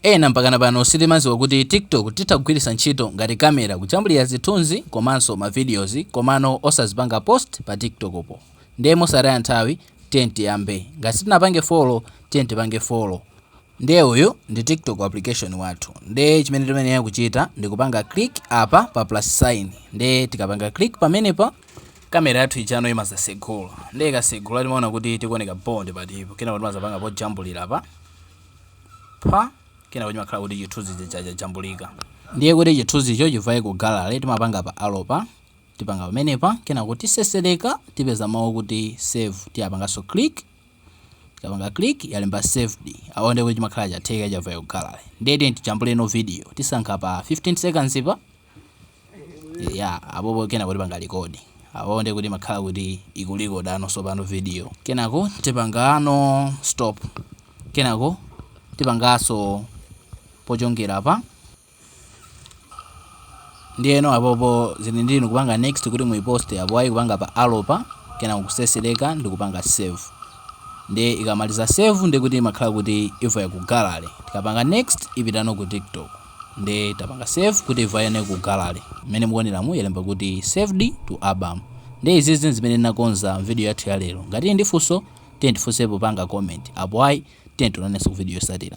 Ena mpakana pano sitimaziwa kuti TikTok titha kugwilisa ntchito ngati camera kujambulira zithunzi komanso ma videos komano osazipanga post pa TikTok po nde mosataya nthawi tiyeni tiyambe ngati sitinapange follow tiyeni tipange follow nde uyu ndi TikTok application wathu nde chimene timayenera kuchita ndikupanga click apa pa plus sign nde tikapanga click pamenepa camera yathu ijano imazatsegula nde ikatsegula timaona kuti tikuoneka bho ndi patipo kenako timazapanga pojambulira apa. pa. Kenako chimakhala kuti chithunzi chija chajambulika. Ndiye kuti chithunzicho chivaye ku gallery, timapanga pa arrow pa. Tipanga pamenepa. Kenako tiseseleka, tipeza mau okuti save. Tizapanganso click. Tikapanga click, yalemba saved. Apo ndiye kuti chimakhala chatheka, chavaya ku gallery. Ndiye tiyeni tijambuleno video. Tisankha pa 15 seconds pa. Eya, apopo kenako tipanga record. Apopo ndiye kuti imakhala kuti ikurekodano sopano video. Kenako tipangano stop. Kenako tipangaso pochongera apa. Ndiyeno apopo zili ndi inu kupanga next kuti muiposte apo ayi kupanga pa arrow pa kenako kusesereka ndi kupanga save. Ndiye ikamaliza save ndiye kuti imakhala kuti yavaya ku gallery. Tikapanga next ipitano ku TikTok. Nde tapanga save kuti ivayeno ku gallery. Mmene mukuoneramu yalemba kuti saved to album. Nde izizi nzimene tinakonza mvideo yathu ya lero. Ngati tili ndi funso, tiyeni tifunse popanga comment. Apo ayi, tiyeni tionanenso ku video yosatira.